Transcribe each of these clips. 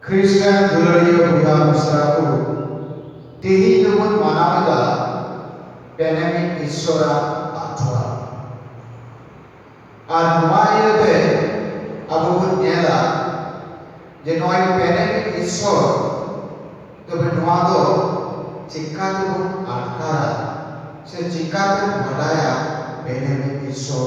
ᱠᱷᱨᱤᱥᱴᱟᱱ ᱫᱩᱞᱟᱹᱲᱤᱭᱟᱹ ᱵᱚᱭᱦᱟ ᱢᱤᱥᱨᱟ ᱠᱚ, ᱛᱮᱦᱮᱧ ᱫᱚ ᱵᱚᱱ ᱢᱟᱱᱟᱣ ᱮᱫᱟ ᱯᱮᱱᱮᱢᱤᱫ ᱤᱥᱥᱚᱨ ᱟᱜ ᱟᱛᱷᱣᱟ᱾ ᱟᱨ ᱱᱚᱣᱟ ᱤᱭᱟᱹ ᱛᱮ ᱟᱵᱚ ᱵᱚᱱ ᱧᱮᱞᱟ ᱡᱮ ᱱᱚᱜᱼᱚᱭ ᱯᱮᱱᱮᱢᱤᱫ ᱤᱥᱥᱚᱨ ᱛᱚᱵᱮ ᱱᱚᱣᱟ ᱫᱚ ᱪᱮᱠᱟ ᱛᱮ ᱵᱚᱱ ᱟᱴᱠᱟᱨᱟ ᱥᱮ ᱪᱮᱠᱟ ᱛᱮᱢ ᱵᱟᱰᱟᱭᱟ ᱯᱮᱱᱮᱢᱤᱫ ᱤᱥᱥᱚᱨ?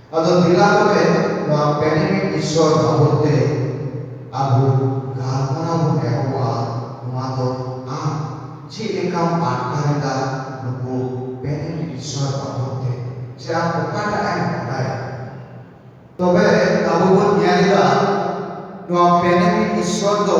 ᱟᱫᱚ ᱫᱮᱞᱟ ᱛᱚᱵᱮ ᱱᱚᱣᱟ ᱯᱮᱱᱮᱢᱤᱛ ᱤᱥᱥᱚᱨ ᱵᱟᱵᱚᱛ ᱛᱮ ᱟᱵᱚ ᱜᱟᱞᱢᱟᱨᱟᱣ ᱵᱚᱱ ᱮᱦᱚᱵᱟ᱾ ᱱᱚᱣᱟ ᱫᱚ ᱟᱢ ᱪᱮᱫ ᱞᱮᱠᱟᱢ ᱟᱴᱠᱟᱨ ᱮᱫᱟ ᱱᱩᱠᱩ ᱯᱮᱱᱮᱢᱤᱛ ᱤᱥᱥᱚᱨ ᱵᱟᱵᱚᱛ ᱛᱮ? ᱥᱮ ᱟᱢ ᱚᱠᱟᱴᱟᱜ ᱮᱢ ᱵᱟᱰᱟᱭᱟ? ᱛᱚᱵᱮ ᱟᱵᱚ ᱵᱚᱱ ᱧᱮᱞ ᱮᱫᱟ ᱱᱚᱣᱟ ᱯᱮᱱᱮᱢᱤᱛ ᱤᱥᱥᱚᱨ ᱫᱚ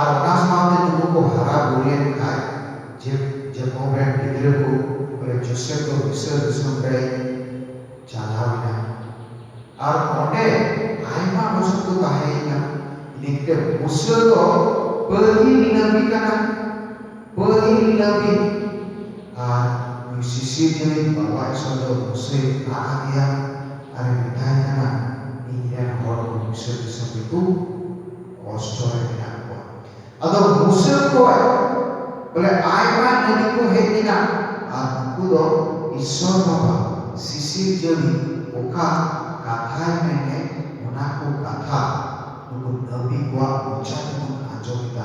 ᱟᱨ ᱚᱱᱟ ᱥᱟᱶᱛᱮ ᱱᱩᱠᱩ ᱠᱚ ᱦᱟᱨᱟ ᱵᱩᱨᱩ ᱞᱮᱱ ᱠᱷᱟᱡ ᱡᱮᱠᱚᱵᱽ ᱨᱮᱱ ᱜᱤᱫᱽᱨᱟᱹ ᱠᱚ ᱵᱚᱞᱮ ᱡᱳᱥᱮᱯᱷ ᱫᱚ ᱢᱤᱥᱨᱚ ᱫᱤᱥᱚᱢ ᱨᱮᱭ ᱪᱟᱞᱟᱣ ᱮᱱᱟ ᱟᱨ ᱚᱸᱰᱮ ᱟᱭᱢᱟ ᱵᱚᱪᱷᱚᱨ ᱠᱚ ᱛᱟᱦᱮᱸᱭᱮᱱᱟ ᱤᱱᱟᱹ ᱠᱟᱛᱮᱫ ᱢᱩᱥᱟᱹ ᱫᱚ ᱯᱟᱹᱦᱤᱞ ᱱᱟᱹᱵᱤ ᱠᱟᱱᱟᱭ ᱯᱟᱹᱦᱤᱞ ᱱᱟᱹᱵᱤ ᱟᱨ ᱱᱩᱭ ᱥᱤᱥᱤᱨᱤᱭᱟᱹ ᱨᱮᱱ ᱵᱟᱵᱟ ᱤᱥᱚᱨ ᱫᱚ ᱢᱩᱥᱟᱹᱭ ᱨᱟᱜ ᱟᱫᱮᱭᱟ ᱟᱨᱮ ᱢᱮᱛᱟᱭ ᱠᱟᱱᱟ ᱤᱧ ᱨᱮᱱ ᱦᱚᱲ ᱠᱚ ᱢᱤᱥᱨᱚ ᱫᱤᱥᱚᱢ ᱨᱮᱠᱚ ᱠᱚᱥᱴᱚ ᱨᱮ ᱢᱮᱱᱟᱜ ᱠᱚᱣᱟ᱾ ᱟᱫᱚ ᱢᱩᱥᱟᱹ ᱠᱷᱚᱡ ᱵᱚᱞᱮ ᱟᱭᱢᱟ ᱱᱟᱹᱵᱤ ᱠᱚ ᱦᱮᱡ ᱞᱮᱱᱟ ᱟᱨ ᱩᱱᱠᱩ ᱫᱚ ᱤᱥᱥᱚᱨ ᱵᱟᱵᱟ ᱥᱤᱥᱤᱨᱡᱟᱹᱣᱤᱡ ᱚᱠᱟ ᱠᱟᱛᱷᱟᱭ ᱢᱮᱱ ᱞᱮᱫ ᱚᱱᱟ ᱠᱚ ᱠᱟᱛᱷᱟ ᱱᱩᱠᱩ ᱱᱟᱹᱵᱤ ᱠᱚᱣᱟᱜ ᱢᱚᱪᱟ ᱛᱮᱵᱚᱱ ᱟᱸᱡᱚᱢ ᱮᱫᱟ᱾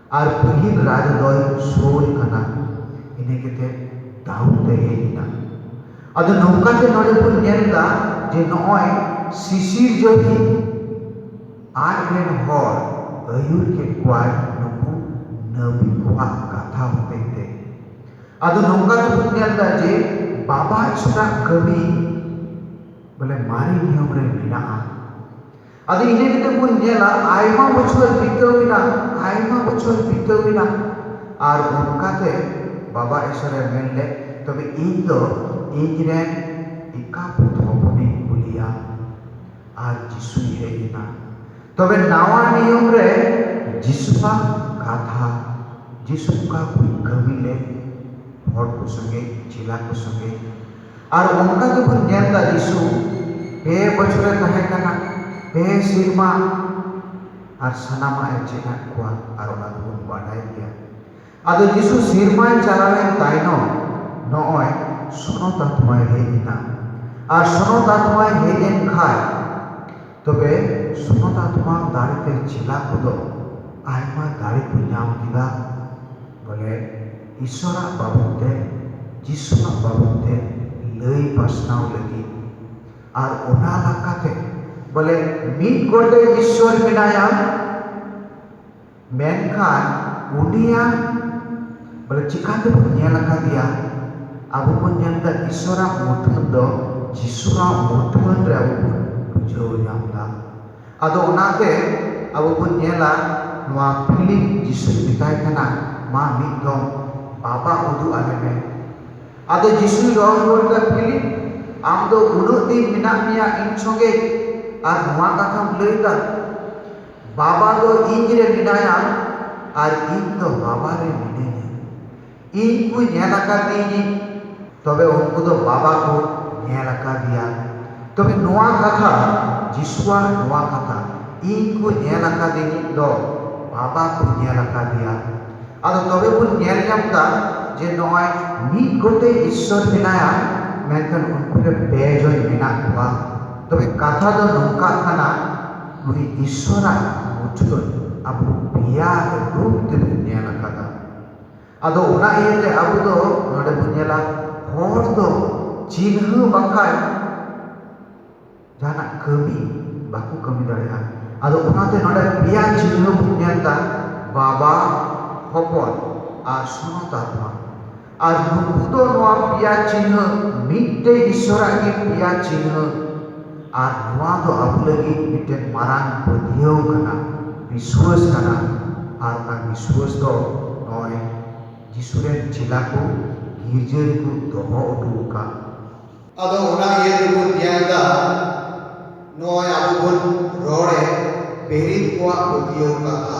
ᱟᱨ ᱯᱟᱹᱦᱤᱞ ᱨᱟᱡᱟ ᱫᱚᱭ ᱥᱳᱨ ᱠᱟᱱᱟ ᱤᱱᱟᱹ ᱠᱟᱛᱮᱜ ᱫᱟᱣᱩᱫ ᱮ ᱦᱮᱡ ᱮᱱᱟ ᱟᱫᱚ ᱱᱚᱝᱠᱟᱛᱮ ᱱᱚᱰᱮ ᱵᱚᱱ ᱧᱮᱞ ᱮᱫᱟ ᱡᱮ ᱱᱚᱜᱼᱚᱭ ᱥᱤᱥᱤᱨᱡᱟᱹᱣᱤᱡ ᱟᱡ ᱨᱮᱱ ᱦᱚᱲ ᱟᱹᱭᱩᱨ ᱠᱮᱜ ᱠᱚᱣᱟᱭ ᱱᱩᱠᱩ ᱱᱟᱹᱵᱤ ᱠᱚᱣᱟᱜ ᱠᱟᱛᱷᱟ ᱦᱚᱛᱮᱜ ᱛᱮ ᱟᱫᱚ ᱱᱚᱝᱠᱟ ᱛᱮᱵᱚᱱ ᱧᱮᱞᱫᱟ ᱡᱮ ᱵᱟᱵᱟ ᱤᱥᱨᱟᱜ ᱠᱟᱹᱢᱤ ᱵᱚᱞᱮ ᱢᱟᱨᱮ ᱱᱤᱭᱚᱢ ᱨᱮ ᱢᱮᱱᱟᱜᱼᱟ ᱟᱫᱚ ᱤᱱᱟᱹ ᱠᱟᱛᱮᱜ ᱵᱚᱱ ᱧᱮᱞᱟ ᱟᱭᱢᱟ ᱵᱚᱪᱷᱚᱨ ᱵᱤᱛᱟᱹᱣ ᱮᱱᱟ ᱟᱭᱢᱟ ᱵᱚᱪᱷᱚᱨ ᱵᱤᱛᱟᱹᱣ ᱮᱱᱟ ᱟᱨ ᱚᱱᱠᱟᱛᱮ ᱵᱟᱵᱟ ᱮᱥᱚᱨᱮ ᱢᱮᱱ ᱞᱮᱜ ᱛᱚᱵᱮ ᱤᱧ ᱫᱚ ᱤᱧ ᱨᱮᱱ ᱮᱠᱟᱵᱷᱩᱛ ᱦᱚᱯᱚᱱᱤᱧ ᱠᱩᱞᱮᱭᱟ ᱟᱨ ᱡᱤᱥᱩᱭ ᱦᱮᱡ ᱮᱱᱟ ᱛᱚᱵᱮ ᱱᱟᱣᱟ ᱱᱤᱭᱚᱢ ᱨᱮ ᱡᱤᱥᱩᱣᱟᱜ ᱠᱟᱛᱷᱟ ᱡᱤᱥᱩ ᱚᱠᱟ ᱠᱚᱭ ᱠᱟᱹᱢᱤ ᱞᱮᱜ ᱦᱚᱲ ᱠᱚ ᱥᱚᱝᱜᱮ ᱪᱮᱞᱟ ᱠᱚ ᱥᱚᱝᱜᱮ ᱟᱨ ᱚᱱᱠᱟ ᱜᱮᱵᱚᱱ ᱧᱮᱞᱫᱟ ᱡᱤᱥᱩ ᱯᱮ ᱵᱚᱪᱷᱚᱨᱮ ᱛᱟᱦᱮᱸ ᱠᱟᱱᱟ ᱯᱮ ᱥᱮᱨᱢᱟ ᱟᱨ ᱥᱟᱱᱟᱢᱟᱜ ᱮ ᱪᱮᱫ ᱟᱫ ᱠᱚᱣᱟ ᱟᱨ ᱚᱱᱟ ᱫᱚᱵᱚᱱ ᱵᱟᱰᱟᱭ ᱜᱮᱭᱟ ᱟᱫᱚ ᱡᱤᱥᱩ ᱥᱮᱨᱢᱟᱭ ᱪᱟᱞᱟᱣᱮᱱ ᱛᱟᱭᱱᱚᱢ ᱱᱚᱜᱼᱚᱭ ᱥᱚᱱᱚᱛ ᱟᱛᱢᱟᱭ ᱦᱮᱡ ᱮᱱᱟ ᱟᱨ ᱥᱚᱱᱚᱛ ᱟᱛᱢᱟᱭ ᱦᱮᱡ ᱮᱱ ᱠᱷᱟᱡ ᱛᱚᱵᱮ ᱥᱚᱱᱚᱛ ᱟᱛᱢᱟ ᱫᱟᱲᱮᱛᱮ ᱪᱮᱞᱟ ᱠᱚᱫᱚ ᱟᱭᱢᱟ ᱫᱟᱲᱮ ᱠᱚ ᱧᱟᱢ ᱠᱮᱫᱟ ᱵᱚᱞᱮ ᱤᱥᱚᱨᱟᱜ ᱵᱟᱵᱚᱛ ᱛᱮ ᱡᱤᱥᱩᱣᱟᱜ ᱵᱟᱵᱚᱛ ᱛᱮ ᱞᱟᱹᱭ ᱯᱟᱥᱱᱟᱣ ᱞᱟᱹᱜᱤᱫ ᱟᱨ ᱚᱱᱟ ᱞᱟᱠᱟᱛᱮ ᱵᱚᱞᱮ ᱢᱤᱫ ᱜᱚᱴᱮᱡ ᱤᱥᱚᱨ ᱢᱮᱱᱟᱭᱟ ᱢᱮᱱᱠᱷᱟᱱ ᱩᱱᱤᱭᱟᱜ ᱵᱚᱞᱮ ᱪᱤᱠᱟ ᱛᱮᱵᱚᱱ ᱧᱮᱞ ᱟᱠᱟᱫᱮᱭᱟ ᱟᱵᱚ ᱵᱚᱱ ᱧᱮᱞ ᱮᱫᱟ ᱤᱥᱚᱨᱟᱜ ᱢᱩᱴᱷᱟᱹᱱ ᱫᱚ ᱡᱤᱥᱩᱣᱟᱜ ᱢᱩᱴᱷᱟᱹᱱ ᱨᱮ ᱟᱵᱚ ᱵᱚᱱ ᱵᱩᱡᱷᱟᱹᱣ ᱧᱟᱢ ᱮᱫᱟ ᱟᱫᱚ ᱚᱱᱟᱛᱮ ᱟᱵᱚ ᱵᱚᱱ ᱧᱮᱞᱟ ᱱᱚᱣᱟ ᱯᱷᱤᱞᱤᱢ ᱡᱤᱥᱩᱭ ᱢᱮᱛᱟᱭ ᱠᱟᱱᱟ ᱢᱟ ᱢᱤᱫ ᱫᱚᱢ ᱵᱟᱵᱟ ᱩᱫᱩᱜ ᱟᱞᱮ ᱢᱮ ᱟᱫᱚ ᱡᱤᱥᱩᱭ ᱨᱚᱲ ᱨᱩᱣᱟᱹᱲ ᱟᱫᱟ ᱯᱷᱤᱞᱤᱢ ᱟᱢ ᱫᱚ ᱩᱱᱟᱹᱜ ᱫᱤᱱ ᱢᱮᱱᱟᱜ ᱢᱮᱭᱟ ᱤᱧ ᱥᱚᱝᱜᱮ ᱟᱨ ᱱᱚᱣᱟ ᱠᱟᱛᱷᱟᱢ ᱞᱟᱹᱭᱫᱟ ᱵᱟᱵᱟ ᱫᱚ ᱤᱧᱨᱮ ᱢᱮᱱᱟᱭᱟ ᱟᱨ ᱤᱧ ᱫᱚ ᱵᱟᱵᱟᱨᱮ ᱢᱤᱱᱟᱹᱧᱟ ᱤᱧ ᱠᱚ ᱧᱮᱞ ᱟᱠᱟᱫᱤᱧ ᱛᱚᱵᱮ ᱩᱱᱠᱩ ᱫᱚ ᱵᱟᱵᱟ ᱠᱚ ᱧᱮᱞ ᱟᱠᱟᱫᱮᱭᱟ ᱛᱚᱵᱮ ᱱᱚᱣᱟ ᱠᱟᱛᱷᱟ ᱡᱤᱥᱩᱣᱟᱜ ᱱᱚᱣᱟ ᱠᱟᱛᱷᱟ ᱤᱧ ᱠᱚ ᱧᱮᱞ ᱟᱠᱟᱫᱤᱧ ᱫᱚ ᱵᱟᱵᱟ ᱠᱚ ᱧᱮᱞ ᱟᱠᱟᱫᱮᱭᱟ ᱟᱫᱚ ᱛᱚᱵᱮ ᱵᱚᱱ ᱧᱮᱞ ᱧᱟᱢ ᱮᱫᱟ ᱡᱮ ᱱᱚᱜᱼᱚᱭ ᱢᱤᱫ ᱜᱚᱴᱮᱡ ᱤᱥᱥᱚᱨ ᱢᱮᱱᱟᱭᱟ ᱢᱮᱱᱠᱷᱟᱱ ᱩᱱᱠᱩ ᱨᱮ ᱯᱮ ᱡᱚᱱ ᱢᱮᱱᱟᱜ ᱠᱚᱣᱟ ᱛᱚᱵᱮ ᱠᱟᱛᱷᱟ ᱫᱚ ᱱᱚᱝᱠᱟᱜ ᱠᱟᱱᱟ ᱱᱩᱭ ᱤᱥᱥᱚᱨᱟᱜ ᱢᱩᱴᱷᱟᱹᱱ ᱟᱵᱚ ᱯᱮᱭᱟ ᱨᱩᱯ ᱛᱮᱵᱚᱱ ᱧᱮᱞ ᱟᱠᱟᱫᱟ ᱟᱫᱚ ᱚᱱᱟ ᱤᱭᱟᱹᱛᱮ ᱟᱵᱚ ᱫᱚ ᱱᱚᱰᱮ ᱵᱚᱱ ᱧᱮᱞᱟ ᱦᱚᱲ ᱫᱚ ᱪᱤᱱᱦᱟᱹ ᱵᱟᱝᱠᱷᱟᱱ ᱡᱟᱦᱟᱱᱟᱜ ᱠᱟᱹᱢᱤ ᱵᱟᱠᱚ ᱠᱟᱹᱢᱤ ᱫᱟᱲᱮᱭᱟᱜᱼᱟ ᱟᱫᱚ ᱚᱱᱟᱛᱮ ᱱᱚᱰᱮ ᱯᱮᱭᱟ ᱪᱤᱱᱦᱟᱹ ᱵᱚᱱ ᱧᱮᱞᱫᱟ ᱵᱟᱵᱟ ᱦᱚᱯᱚᱱ ᱟᱨ ᱥᱚᱱᱚᱛ ᱟᱨ ᱫᱷᱚᱱ ᱟᱨ ᱱᱩᱠᱩ ᱫᱚ ᱱᱚᱣᱟ ᱯᱮᱭᱟ ᱪᱤᱱᱦᱟᱹ ᱢᱤᱫᱴᱮᱱ ᱤᱥᱥᱚᱨᱟᱜ ᱜᱮ ᱯᱮᱭᱟ ᱪᱤᱱᱦᱟᱹ ᱟᱨ ᱱᱚᱣᱟ ᱫᱚ ᱟᱵᱚ ᱞᱟᱹᱜᱤᱫ ᱢᱤᱫᱴᱮᱱ ᱢᱟᱨᱟᱝ ᱯᱟᱹᱛᱭᱟᱹᱣ ᱠᱟᱱᱟ ᱵᱤᱥᱣᱟᱹᱥ ᱠᱟᱱᱟ ᱟᱨ ᱚᱱᱟ ᱵᱤᱥᱣᱟᱹᱥ ᱫᱚ ᱱᱚᱜᱼᱚᱭ ᱡᱤᱥᱩ ᱨᱮᱱ ᱪᱮᱞᱟ ᱠᱚ ᱜᱤᱨᱡᱟᱹ ᱨᱮᱠᱚ ᱫᱚᱦᱚ ᱦᱚᱴᱚ ᱟᱠᱟᱫ ᱟᱫᱚ ᱚᱱᱟ ᱤᱭᱟᱹ ᱛᱮᱵᱚᱱ ᱧᱮᱞ ᱮᱫᱟ ᱱᱚᱜᱼᱚᱭ ᱟᱵᱚ ᱵᱚᱱ ᱨᱚᱲᱮᱫ ᱯᱮᱨᱮᱡ ᱠᱚᱣᱟᱜ ᱯᱟᱹᱛᱭᱟᱹᱣ ᱠᱟᱛᱷᱟ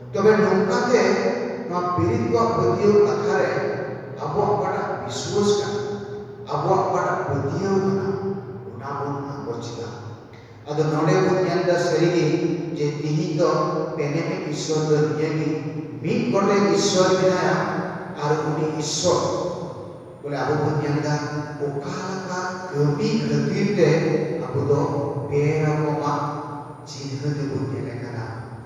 ᱛᱚᱵᱮ ᱱᱚᱝᱠᱟ ᱛᱮ ᱱᱚᱣᱟ ᱯᱤᱨᱤᱛ ᱠᱚᱣᱟᱜ ᱯᱟᱹᱛᱭᱟᱹᱣ ᱠᱟᱛᱷᱟ ᱨᱮ ᱟᱵᱚᱣᱟᱜ ᱚᱠᱟᱴᱟᱜ ᱵᱤᱥᱣᱟᱹᱥ ᱠᱟᱱᱟ, ᱟᱵᱚᱣᱟᱜ ᱚᱠᱟᱴᱟᱜ ᱯᱟᱹᱛᱭᱟᱹᱣ ᱠᱟᱱᱟ ᱚᱱᱟ ᱵᱚᱱ ᱟᱸᱜᱚᱪ ᱮᱫᱟ᱾ ᱟᱫᱚ ᱱᱚᱸᱰᱮ ᱵᱚᱱ ᱧᱮᱞ ᱮᱫᱟ ᱥᱟᱹᱨᱤ ᱜᱮ ᱡᱮ ᱛᱤᱦᱤᱧ ᱫᱚ ᱯᱮᱱᱮᱢᱮ ᱤᱥᱣᱚᱨ ᱫᱚ ᱱᱤᱭᱟᱹ ᱜᱮ ᱢᱤᱫ ᱜᱚᱴᱮᱡ ᱤᱥᱣᱚᱨ ᱢᱮᱱᱟᱭᱟ ᱟᱨ ᱩᱱᱤ ᱤᱥᱣᱚᱨ ᱵᱚᱞᱮ ᱟᱵᱚ ᱵᱚᱱ ᱧᱮᱞ ᱮᱫᱟ ᱚᱠᱟ ᱞᱮᱠᱟ ᱠᱟᱹᱢᱤ ᱠᱷᱟᱹᱛᱤᱨ ᱛᱮ ᱟᱵᱚ ᱫᱚ ᱯᱮ ᱨᱚᱠᱚᱢᱟᱜ ᱪᱤᱱᱦᱟᱹ ᱜᱮᱵᱚᱱ ᱧᱮᱞᱮ ᱠᱟᱱᱟ᱾